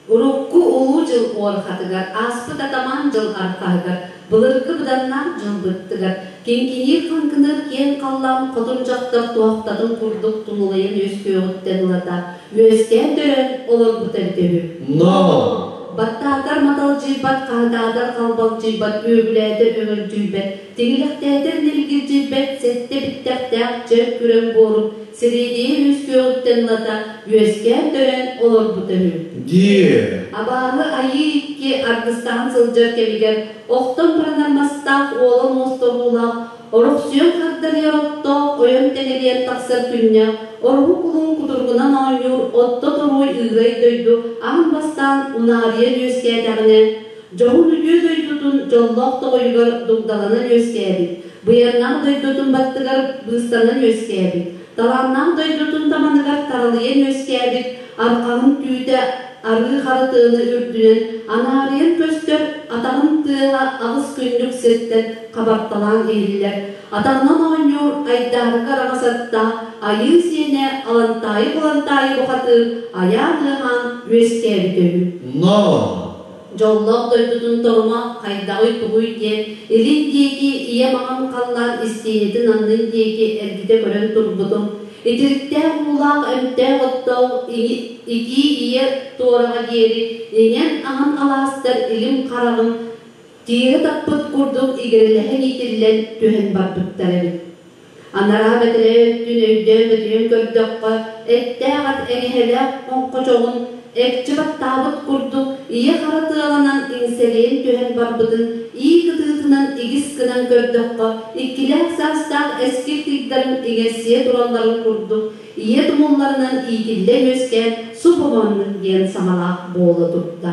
Урукку Улуу дьыл уонхатыгар ааспыт атамаан дьыл арҕаһыгар былыргы быданнаах дьылбыттыгар Киҥкиниир-хаҥкыныыр киэҥ халлаан хотун дьахтар туохтатын курдук тулулайан үөскүөҕүттэн ылата үөскээн төрөөн олорбута эбитэ үһү. Ноо! Баттаатар маталдьыйбат, хаһытаатар халбалдьыйбат, үөгүлээтэр өҥөлдьүйбэт Тигилэхтээтэр нэлгирдьирбэт сэттэ бүттэхтээх чөл күрэҥ буору сэриэдийэ үһүс күөҕүттэн ылата үөскээн төрөөн олорбута үһү. Дии. Абааһы айыы икки аргыстаһан сылдьар кэмигэр охтон баранар мастаах уолун муостоһуулаах орохсуйан хардарыйар оттоох ойон тэнэлийэн тахсар күннээх ороһу кулун кутургунан оонньуур отто торуой ыырай дойду аһын бастаан унаарыйан үөскээтэҕинэ Дьоһун үтүө дойдутун дьоллоох тоҕойугар дугдаҕынан үөскээбит, быйаҥнаах дойдутун баттыгар быыстанан үөскээбит, талааннаах дойдутун таманыгар таралыйан үөскээбит арҕаҕын түүтэ арыы хара тыаны үрдүнэн анаарыйан көстөр атаҕын тыаһа аҕыс күннүк сиртэн хабарталаан иһиллэр атаҕынан оонньуур айдаарыга араҥас аттаах айыы сиэнэ Алантаайы-Кулантаайы бухатыыр айаан ыаһаан үөскээбитэ үһү. Ноо, Дьоллоох дойдутун торума хайдаҕый-тугуй диэн илин диэки ийэ-маҕан халлаан истиэнэтин аннын диэки эргитэ көрөн турбутум, итириктээх-уулаах эмтээх-оттоох икии ийэ туораҕа диэри иҥэн-аһан алаастар илим-хараҕын тиэрэ таппыт курдук игирэлэһэн иитиллэн түһэн барбыттар эбит. Анараа бэтэрээ өттүн өйдөөн-өтүйэн көрдөххө, эттээх ат эҥэһэлээх хоҥхочоҕун экчи баттаабыт курдук ийэ-хара тыаланан иҥсэлэйэн түһэн барбытын ии кытыытынан игис гынан көрдөххө, иккилээх саастаах эскил тигдэрин иҥэрсийэ туралларын курдук, ийэ тумулларынан иитиллэн үөскээн субу маннык диэн саҥалаах буола турда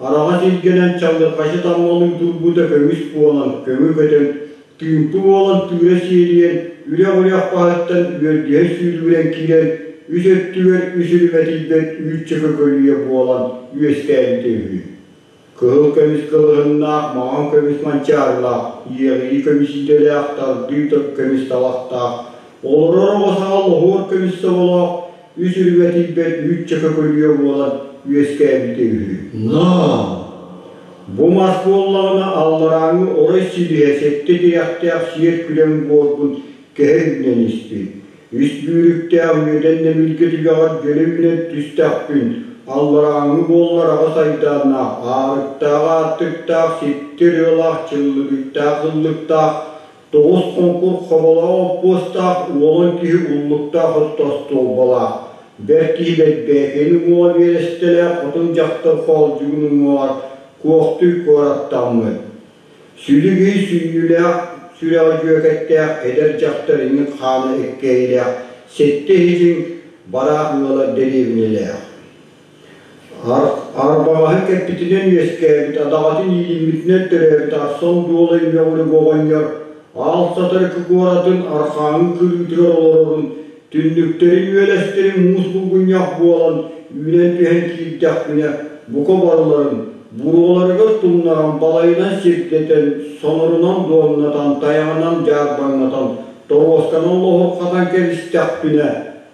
Хараҕа силгэнэн чаллырҕаси таммалыытурбута көмүс буолан көмө көтөн, тыымпы буолан тыыра сиэрийэн, үрэх-үрэх хаһыттан үөргэһэ сүүрүгүрэн киирэн, үс өттүгэр үс үрүмэтийбэт үүччэ көкөлүйэ буолан үөскээбитэ үһү. Кыһыл көмүс кылыһыннаах, маҥан көмүс манчаарылаах, иэҕирии көмүс идэлээх, тардыы көмүс талахтаах, олорор оҕо саҕа лоһуор көмүс соболоох, Ис үргэ тиийбэт үүт чака көлүйэ буолан үөскээбитэ үһү. Ноо! Бу мас буоллаҕына алларааҥы орой силиһэ сэттэ тирэхтээх сиэр күлэҥ буорбун кэһэ үүнэн испит. Ис бүүрүктээх үөдэн нэмиргэ түгэҕэр дьөлө үүнэн түстэхпин, алларааҥы буоллар аҕыс айдааннаах аарыктаах аартыктаах, ситтэр ыалаах, чыллыгыктаах, ыллыктаах, Тоҕус хоҥкур хомолоох оппуостаах уолун киһи уллуктаах отто остуолбалаах, бэрт киһи бэрбээкэни уҥуоҕа биэрэстэлээх хотун дьахтар хоолдьугун уҥуоҕар куохтуй куораттаммыт. Сүлүгүй сүүйүүлээх сүрэҕи дьүөкэттээх эдэр дьахтар иҥин хаана эккэйилээх, сэттэ иһитин бараах ыалар дэриэбинэлээх. Арбаҕаһы кэппитинэн үөскээбит, адаҕатын иилиммитинэн төрөөбүт Арсон Дуола Үөҕүрүк оҕонньор аал сатар куоратын архаангы кылыытыгар олорорун, түннүктэрин үөлэстэрин муус булгунньах буолан үүнэн түһэн киирдэхпинэ бука барыларын буруоларыгар тумнаран балайынан сирдэтэн, сонорунан дуомнатан, тайаҕынан дьаарбаҥнатан, торуосканан лоһурҕатан кэбистэхпинэ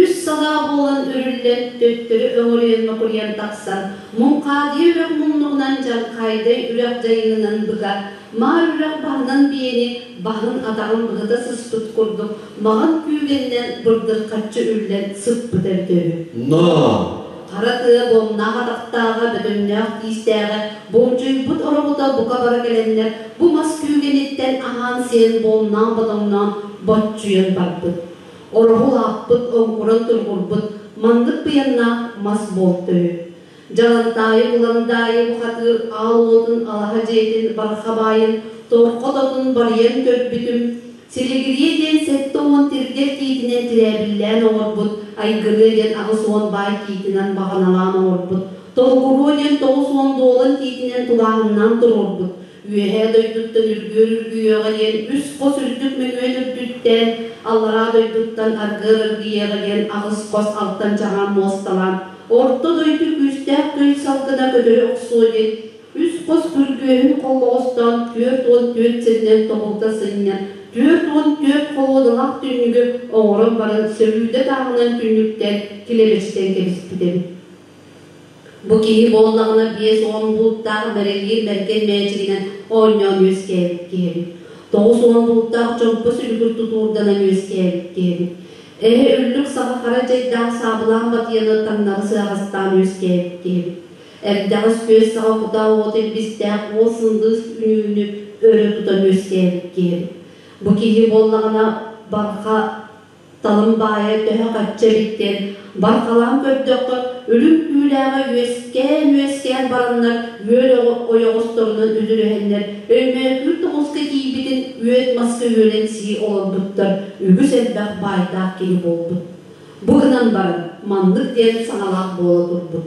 Үс санаа буолан үрүллэн, төттөрү өҕүрүйэн-мөкүрүйэн тахсан, Муҥхаадыйа үрэх муннугунан Дьархаайдай үрэх дьайыынынан быка, Маар үрэх баһынан биэни баһын-атаҕын быһыта сыспыт курдук маҕан күүгэнинэн бырдырхаччы үллэн сыппыта үтэ үһү. Ноо! Хара тыа буомнаах атахтааҕа, бөтөҥнөөх тиистээҕэ, болдьойбут ороҕото бука бара кэлэннэр бу мас күүгэниттэн аһаан-сиэн буомнаан-ботоҥноон боччуйан барбыт. Ороһу аахпыт, оҥкуран-тургурбут маннык тыйаннаах мас буолта үһү. Дьалантаайы Буламдаайы бухатыыр аал уотун алаһа дьиэтин бархабаайын торҕо-тотун барыйан көрбүтүм, силигирийэ диэн сэттэ уон тиргэл тиитинэн тирээбиллээн оҥорбут Айгырыа диэн аҕыс уон баай тиитинэн баҕаналаан оҥорбут Толкуруо диэн тоҕус уон дуолан тиитинэн тулааһыннаан туруорбут Үөһээ дойдуттан үргүөр үргүйэҕэ диэн үс хос үрдүк мөҥүөн үрдүттэн, аллараа дойдуттан аргыар аргыйыаҕа диэн аҕыс хос алтан-чаҕаан муосталаан орто дойду күүстээх тый салгына көтөрү охсуо диэн үс хос күргүөһүн холлоҕостоон түөрт уон түөрт сиринэн тобулта сынньан түөрт уон түөрт холуодалаах түннүгү оҥорон баран сөрүүдэ тааҕынан түннүктэн килэбэстэн кэбиспитим Бу киһи буоллаҕына биэс уон бултаах бэрэлиир бэргэн мээчигинэн оонньоон үөскээбит киһибит. Тоҕус уон бултаах чомпос үлүгүр тутуурданан үөскээбит киһибит. Эһэ үллүк саха хара дьайдаах саабылаан батыйаны таҥнары сыаҕастаан үөскээбит киһибит. Эрдэҕис күөс саҕа кутаа уот илбистээх уол сындыыс үнүүнү өрө тутан үөскээбит киһибит. Бу киһи буоллаҕына барҕа Талым баайа төһө хачча илик диэн барҕалаан көрдөххө, үлүм түүлээҕэ үөскээн-үөскээн бараннар үөл ойоҕосторунан үдүрүһэннэр Өймөкүүр тоҕуска тиийбитин үөт маска үөлэн сии олорбуттар үгүс элбэх баайдаах киһи буолбут. Бу гынан баран, маннык диэн саҥалаах буола турбут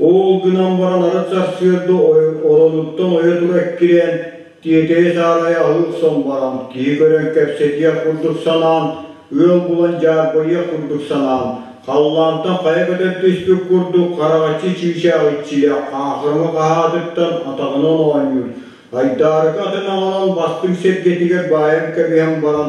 Ол гынан баран ара сарсыарда олонуттан ойо тула эккирээн тиэтэйэ саарайа аһыыр баран киһи көрөн кэпсэтиэх курдук санаан ыал булан дьаарбайыах курдук санаан халлаантан хайа көтөр түспүт курдук хараҕаччы чыычаах иччилэ хаахырма хаһаатыттан атаҕынан оонньуур айдаарыкы атын аҕалан бастыҥ сэргэтигэр баайан кэбиһэн баран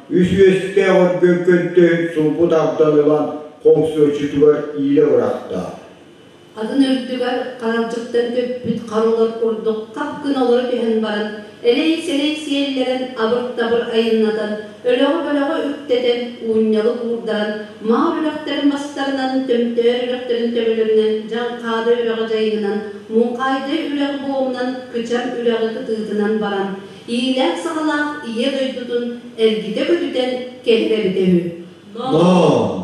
Үс үөстээх өргөр көнтөһүн сулбут ардан ылан хомсуоччутугар иилэ бырахтаах атын үрдүгэр ханалдьыттан көппүт харылар курдук хап гына олоро түһэн баран элэй-сэлэй сиэллэрэн абыр-табыр айаннатан өлөҕө-бөлөҕө үктэтэн уунньалык уурдаран маа бөлөхтөрүн мастарынан төмтөөр үрэхтэрин төбөлөрүнэн дьаҥхаада үрэҕи дьайыҥынан муҥхаайдай үрэҕи буомунан кычам үрэҕи кытыытынан баран иилээх-саҕалаах Ийэ дойдутун эргитэ-көтүтэн кэһэр эбитэ үһү. Ноо!